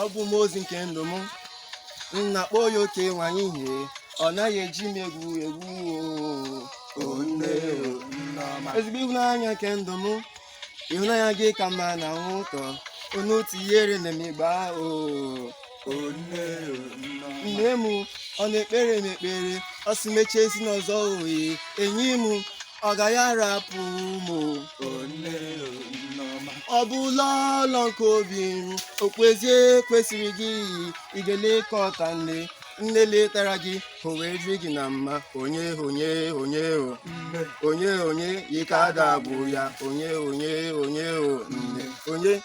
ọ bụ mmụọ ozi nke ndụ m na-akpọ ya oke nwanyị ihe ọ naghị eji m egwu egwu oo nne ezigbo ịhụnanya nke ndụ m ịhụnanya gị ka mmanụ aṅụ ụtọ onu tinyere na m igba oo nne m ọ na-ekpere m ekpere ọ sị m echezina ọzọ oyi enyi m ọ gaghị arapụ m ọ bụ lọlọ nke obi m okpu eze kwesịrị gị ị ga-elekọta nne nne letara gị o wee dịrị gị na mma onye onye onye o onye onye ike ada bụ ya onye onye onye o nne onye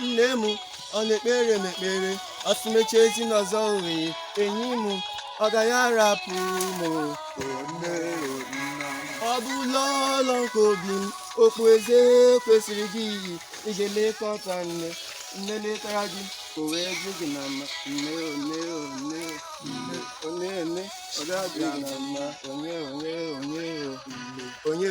nne m ọ na-ekpere m ekpere ọ sị m echezina ọzọ oyi enyi m ọ gaghị arapụ m ọ bụ lọlọ nke obi m okpu eze kwesịrị gị iyi ị ga-elekọta nne nne letara gị o wee dị gị na mma nne o nne o nne o nne o nne ọ ga-adị gị na mma onye onye onye onye